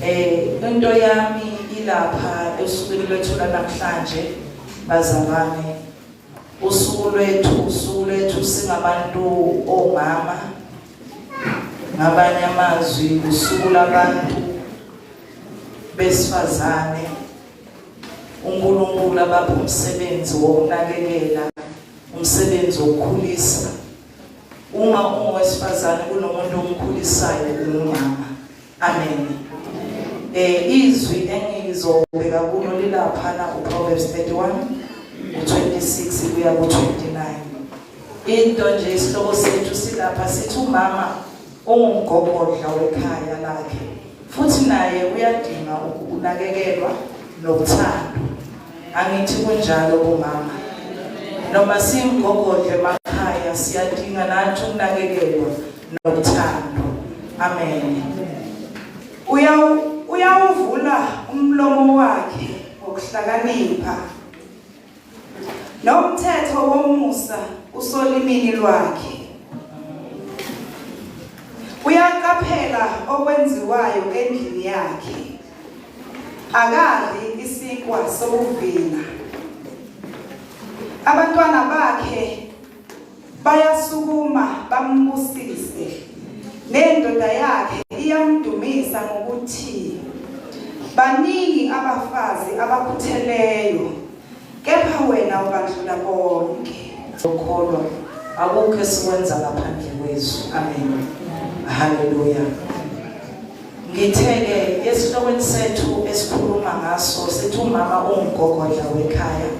Eh into yami ilapha esukwini lwethu namhlanje bazalwane. Usuku lwethu usuku lwethu singabantu omama. Ngabanye amazwi usuku labantu besifazane. uNkulunkulu abapha umsebenzi wokunakekela umsebenzi wokukhulisa uma ungowesifazane kunomuntu omkhulisayo umama Amen. Eh izwi engizobeka kulo lilapha na uProverbs 31 u26 kuya ku29. Into nje isihloko sethu silapha sithi umama ungumgogodla wekhaya lakhe futhi naye uyadinga ukunakekelwa nokuthandwa. Angithi kunjalo kumama. Noma simgogodle emakhaya siyadinga nathi ukunakekelwa nothando amen uyawuvula umlomo wakhe ngokuhlakanipha nomthetho womusa usolimini lwakhe uyaqaphela okwenziwayo endlini yakhe akadli isikwa sokuvina abantwana bakhe Bayasukuma bambusise. Nendoda yakhe iyamdumisa ngokuthi baningi abafazi abakhutheleyo kepha wena ubandlula konke. Ukholwa akukho esikwenza ngaphandle kwezwi. Amen. Hallelujah. Ngitheke esihlokweni sethu esikhuluma ngaso sithi umama ungugogodla wekhaya.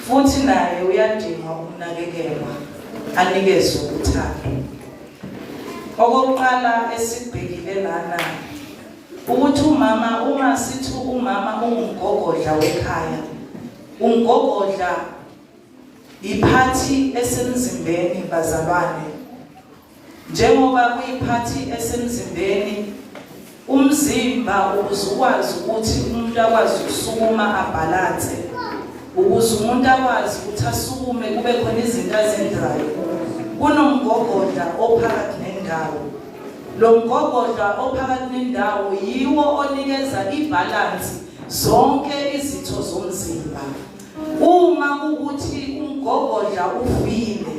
Futhi naye uyadinga ukunakekelwa, anikezwe uthando. Okokuqala esibhekile lana ukuthi umama uma sithi umama ungumgogodla wekhaya umgogodla yiphathi esemzimbeni bazalwane Njengoba kuyiphathi esemzimbeni, umzimba ukuze ukwazi ukuthi umuntu akwazi ukusukuma abhalanse, ukuze umuntu akwazi ukuthi asukume kube khona izinto azenzayo, kunomgogodla ophakathi nendawo. Lo mgogodla ophakathi nendawo yiwo onikeza ibhalansi zonke izitho zomzimba. Uma ukuthi umgogodla ufile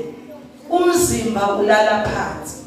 Umzimba ulala phansi.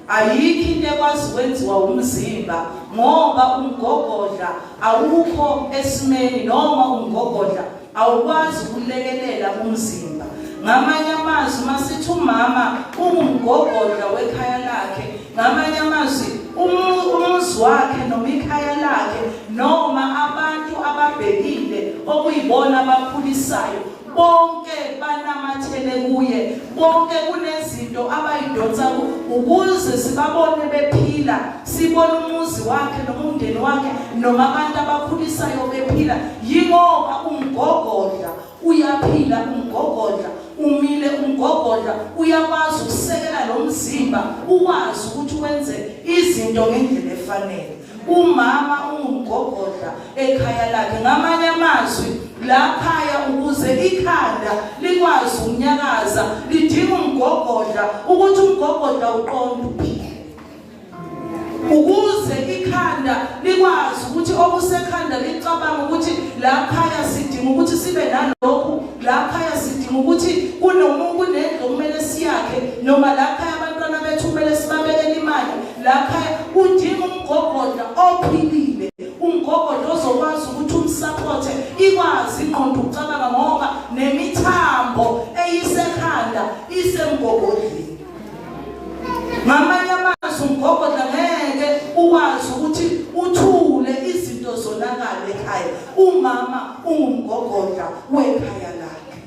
Ayikho into ekwazi kwenziwa umzimba ngoba umgogodla awukho esimeni noma umgogodla awukwazi ukulekelela umzimba. Ngamanye amazwi masithi umama ungumgogodla wekhaya lakhe, ngamanye amazwi umuzi wakhe noma ikhaya lakhe noma abantu ababhekile okuyibona abakhulisayo bonke banamathele kuye bonke kunezinto abayidonsa ukuze sibabone bephila sibone umuzi wakhe noma umndeni wakhe noma abantu abakhulisayo bephila yingoba umgogodla uyaphila umgogodla umile umgogodla uyakwazi ukusekela lo mzimba ukwazi ukuthi wenze izinto ngendlela efanele Umama ungumgogodla ekhaya lakhe ngamanye amazwi lakhaya ukuze ikhanda likwazi ukunyakaza lidinga umgogodla ukuthi umgogodla uqonde uphile ukuze ikhanda likwazi ukuthi okusekhanda licabanga ukuthi lakhaya sidinga ukuthi sibe nalokhu lakhaya sidinga ukuthi kunomuntu kunento kumele siyakhe noma lakhaya abantwana bethu kumele sibabekele imali lapha udinga umgogodla ophilile umgogodla ozokwazi ukuthi umsaphothe ikwazi ingqondo ukucabanga ngoba nemithambo eyisekhanda isemgogodleni ngamanye amazwi umgogodla ngeke ukwazi ukuthi uthule izinto zonakale ekhaya umama ungumgogodla wekhaya lakhe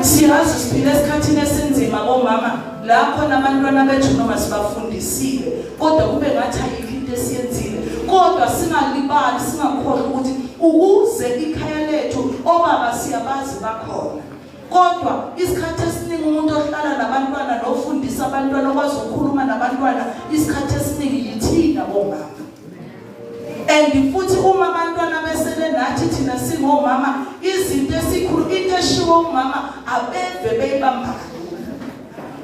siyazi siphila esikhathini esinzima bomama lapho nabantwana bethu noma sibafundisile kodwa kube ngathi ayikho into esiyenzile kodwa singalibali singakhohlwa ukuthi ukuze ikhaya lethu obaba siyabazi bakhona kodwa isikhathi esiningi umuntu ohlala nabantwana nofundisa abantwana okwazi ukukhuluma nabantwana isikhathi esiningi yithina bomama and futhi uma abantwana besele nathi thina singomama izinto esikhulu into eshiwo umama abeve beyibamba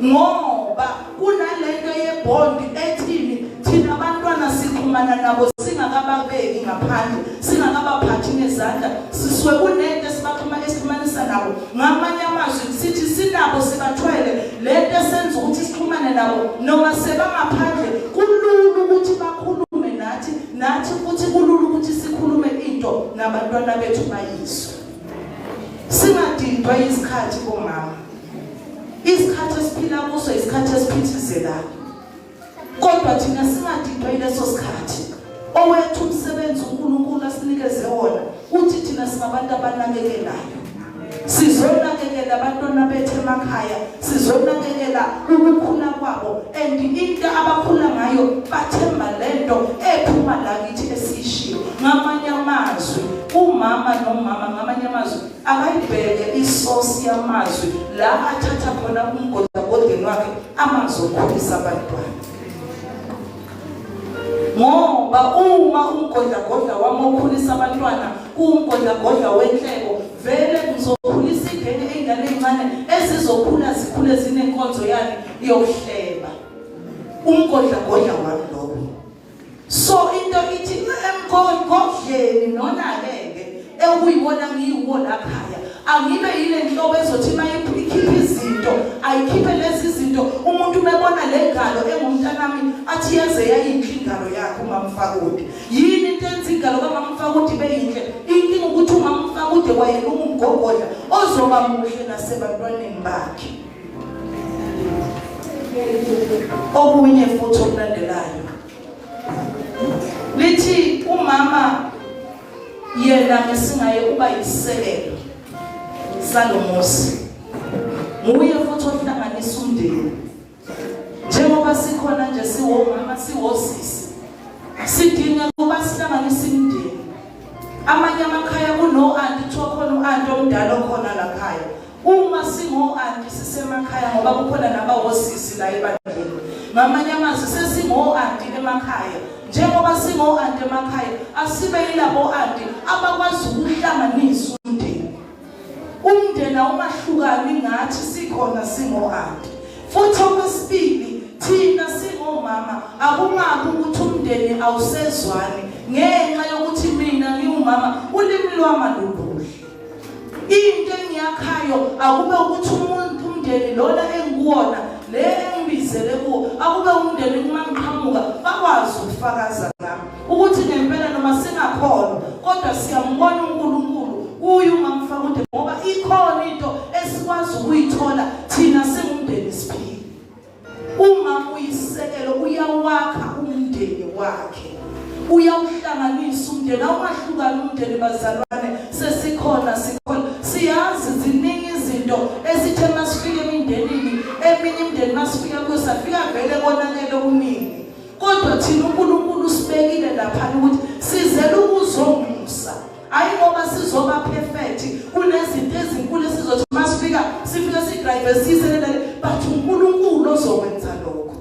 ngoba kunalento yebond ethini thina abantwana sikhumana nabo singakababeki ngaphandle singakabaphathi ngezandla siswe kunento esibakhuma esixhumanisa nabo ngamanye amazwi sithi sinabo sibathwele lento esenza ukuthi sixhumane nabo noma sebangaphandle Kulula ukuthi bakhulume nathi nathi futhi kulula ukuthi sikhulume into nabantwana bethu bayizwe. Singadindwa isikhathi komama. Isikhathi esiphila kuso isikhathi esiphithizelayo. Kodwa thina singadindwa ileso sikhathi. Owethu umsebenzi uNkulunkulu asinikeze wona uthi thina singabantu abanakekelayo. Sizonakekela abantwana bethu emakhaya, sizonakekela ukukhula kwabo and into abakhula ngayo bathemba lento ephuma la kithi esishiyo. Ngamanye amazwi umama nomama ngamanye amazwi akayibheke isosi yamazwi la athatha khona umgodagodeni wakhe amazokhulisa abantwana ngoba uma umgodlagodla wami okhulisa abantwana kuwumgodlagodla wenhleko vele ngizokhulisa ingane ey'ngane ey'ncane ezizokhula zikhule zinenkonzo yakhe yokuhleba umgodlagodla wami lowo so into ithi emgodlagodleni nona-ke ekuyiwona ngiyiwo laphaya angibe yile nhlobo ezothi uma ikhiphe izinto ayikhiphe lezi zinto umuntu umebona le ngalo engumntanami athi yaze yayinhle ingalo yakhe umamfakude yini into enza ingalo kamamfakude ibe yinhle inkinga ukuthi umamfakude wayena ungumgogodla ozoba muhle nasebantwaneni bakhe okunye futhi okulandelayo lithi umama yena ngesingaye uba yisisekelo salomuzi nguye futhi ohlanganisa umndeni njengoba sikhona nje siwomama siwosisi sidinga ukuba sihlanganise imindeni amanye amakhaya kuno anti kuthiwa khona u-anti omdala okhona lakhaya Uma singo-anti sisemakhaya ngoba kukhona nabawosisi la ebandleni. Ngamanye amazwi sesingo-anti emakhaya. Njengoba singo-anti emakhaya asibe yilabo-anti abakwazi ukuhlanganisa umndeni. Umndeni awumahlukani ngathi sikhona singo-anti. Futhi okwesibili thina singomama akungabi ukuthi umndeni awusezwani ngenxa yokuthi mina ngiwumama ulimi lwama lubhuhle. into engiyakhayo akube ukuthi umuntu umndeni lona engikuwona le engibizele kuwo akube umndeni uma ngiqhamuka bakwazi ukufakaza ngami ukuthi ngempela noma singakhona kodwa siyambona uNkulunkulu kuye uma mfakude ngoba ikhona into esikwazi ukuyithola thina singumndeni siphile Uma uyisekelo uyawakha umndeni wakhe. Uyawuhlanganisa umndeni awumahlukani umndeni bazalwane sesikhona sikhona siyazi ziningi izinto esithe masifike emindenini eminye imndeni masifika kuyo safika vele konakele umini kodwa thina uNkulunkulu usibekile lapha ukuthi sizela ukuzonga hayi ngoba sizoba perfect kunezinto ezinkulu esizothi uma sifika sifike sidrive siselelele but uNkulunkulu ozokwenza lokho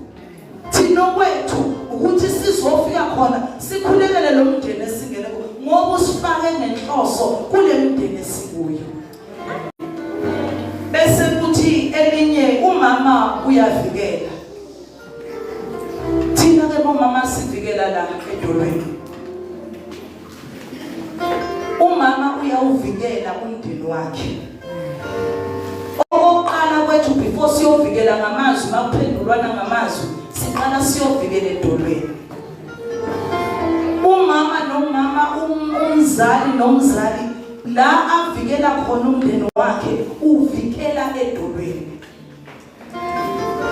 thina kwethu ukuthi sizofika khona sikhulekele lo mndeni esingene ngoba usifake ngenhloso kule mndeni esikuyo bese kuthi elinye umama uyavikela thina ke bomama sivikela la edolweni umama uyawuvikela umndeni wakhe okokuqala kwethu before siyovikela ngamazwi makuphendulwana ngamazwi siqala siyovikela edolweni umama nomama um, umzali nomzali la avikela khona umndeni wakhe uvikela edolweni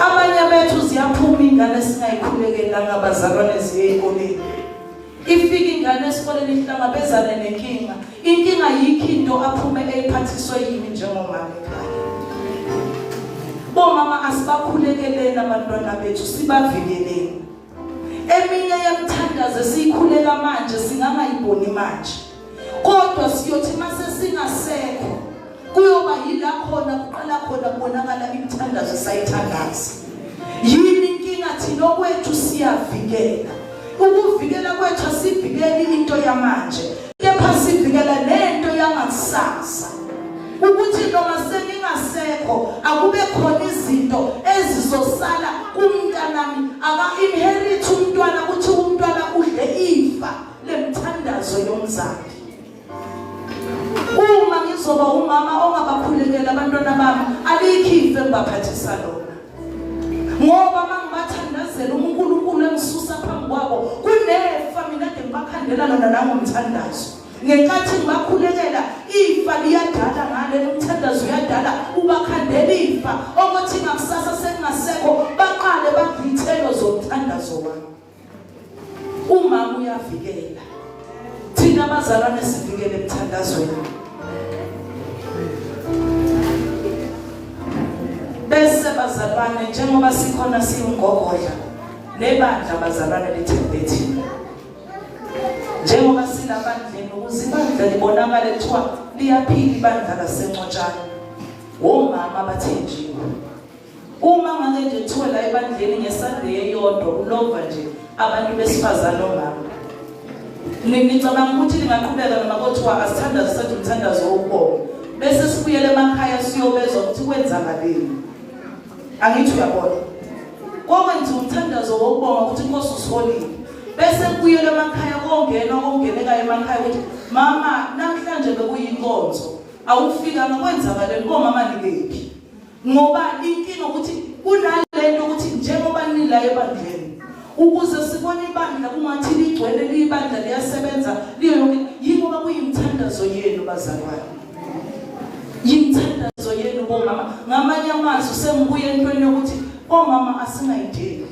Abanye bethu ziyaphuma ingane singayikhulekelanga abazalwane ziye ekoleni. Ifika ingane esikoleni ihlangabezane nenkinga. Inkinga yikho into aphume eyiphathiswe yini njengomama ekhaya. Bomama asibakhulekeleni abantwana bethu sibavikeleni. Eminye yemthandazo esiyikhulela manje singangayiboni manje. Kodwa siyothi mase singasekho kuyoba yila khona kuqala khona kubonakala imithandazo sayithandaza. Yini inkinga thina okwethu siyavikela. Ukuvikela kwethu asivikeli into yamanje. kepha sivikela nento yangakusasa ukuthi noma seningasekho akube khona izinto ezizosala kumntanami aka-inherit umntwana ukuthi umntwana udle ifa lemthandazo yomzali uma ngizoba umama ongabakhulekela abantwana bami alikho ifa engibaphathisa lona ngoba mangibathandazela uNkulunkulu engisusa phambi kwabo kunefa mina ke ngibakhandela lona nangomthandazo ngenkathi ngibakhulekela ifa liyadala ngale umthandazo uyadala ubakhandela ifa okuthi ngakusasa sekungasekho baqale bagithelo zomthandazo wami Umama uyavikela. Thina abazalwane sivikele emthandazweni. Bese bazalwane njengoba sikhona siwungogodla nebandla bazalwane lethembe thina. Njengoba silabandleni ukuze ibandla libonakale kuthiwa liyaphila ibandla lasencotshana. Womama abathenjiwe. Uma ngake nje kuthiwe la ebandleni ngeSunday eyodwa ulova nje abantu besifazane omama. Ngicabanga ukuthi lingaqhubeka noma kothiwa asithandaze senze umthandazo wokubonga. Bese sibuyele emakhaya siyobezwa ukuthi kwenzakaleni. Angithi uyabona. Kokwenza umthandazo wokubonga ukuthi inkosi usiholile. Bese kubuyele emakhaya kongena kongenekayo emakhaya ukuthi mama namhlanje bekuyinkonzo awufikanga kwenzakaleni komama nikephi. ngoba inkinga ukuthi kunalento ukuthi njengoba nila ebandleni ukuze sibone ibandla kungathi ligcwele liyibandla liyasebenza liyo yonke yingoba kuyimthandazo yenu bazalwane yimthandazo yenu bomama ngamanye amazwi sengibuye entweni yokuthi omama asingayideli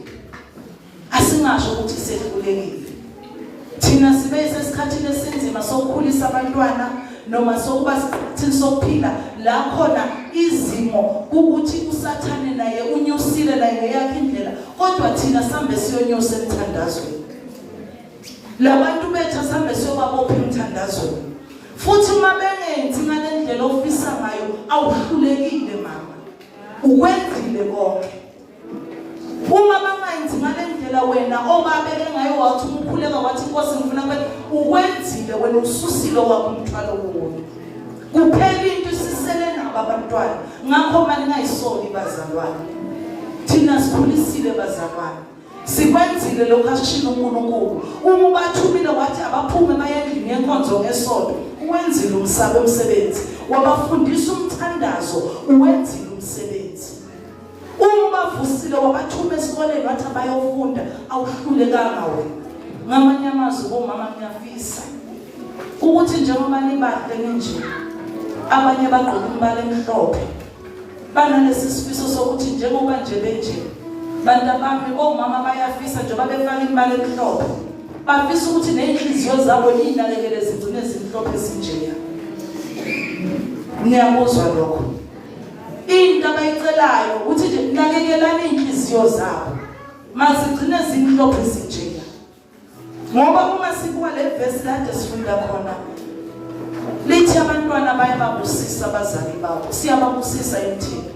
Asingasho ukuthi sehlulekile. Thina sibe sesikhathini esinzima sokukhulisa abantwana noma sokuba thina sokuphila la khona izimo ukuthi usathane naye unyusile la ngeyakhe indlela kodwa thina sambe siyonyusa emthandazweni. Labantu bethu sambe siyobabopha emthandazweni. Futhi uma bengenzi ngalendlela ofisa ngayo awuhlulekile mama. Ukwenzile konke. Uma bangayenzi ngale ndlela wena obabe bengayo wathi umkhuleka wathi inkosi ngifuna kube ukwenzile wena ususile wakho umthwalo wona. Kuphela into isisele nabo abantwana ngakho mali ngayisoni bazalwane. Thina sikhulisile bazalwane. Sikwenzile lokho ashilo uNkulunkulu. Uma ubathumile wathi abaphume bayendlini yenkonzo ngesonto, uwenzile umsabe umsebenzi. Wabafundisa umthandazo, uwenzile umsebenzi. Uma bavusile wabathuma esikoleni wathi abayofunda awuhlulekanga wena. Ngamanye amazwi bomama ngiyafisa ukuthi njengoba nibahle ninje abanye bagqoka umbala emhlophe banalesi sifiso sokuthi njengoba nje benje bantu abami omama bayafisa njengoba befaka imali emhlophe bafisa ukuthi ney'nhliziyo zabo iy'nakekele zigcine zimhlophe ezinjeya niyakuzwa lokho Into abayicelayo ukuthi nje nakekelani inhliziyo zabo. Masigcine zinhlophe sinjena. Ngoba uma sibuka le verse kade sifunda khona lithi abantwana bayababusisa abazali babo siyababusisa emthini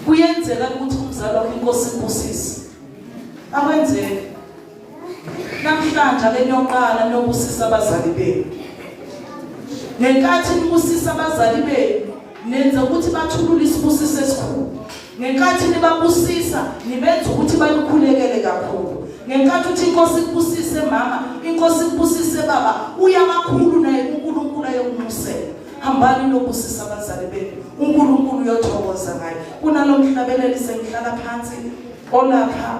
kuyenzeka ukuthi umzali wakho inkosi ibusise akwenzeki Namhlanje ake niyoqala nobusisa abazali benu. Ngenkathi nibusisa abazali benu, nenza ukuthi bathulule isibusiso esikhulu. Ngenkathi nibabusisa, nibenza ukuthi bayikhulekele kakhulu. Ngenkathi uthi inkosi ikubusise mama, inkosi ikubusise baba, uyamakhulu naye uNkulunkulu ayokumusela. Hambani nobusisa abazali benu. uNkulunkulu uyothokoza ngaye kunalomhlabeleli sengihlala phansi olapha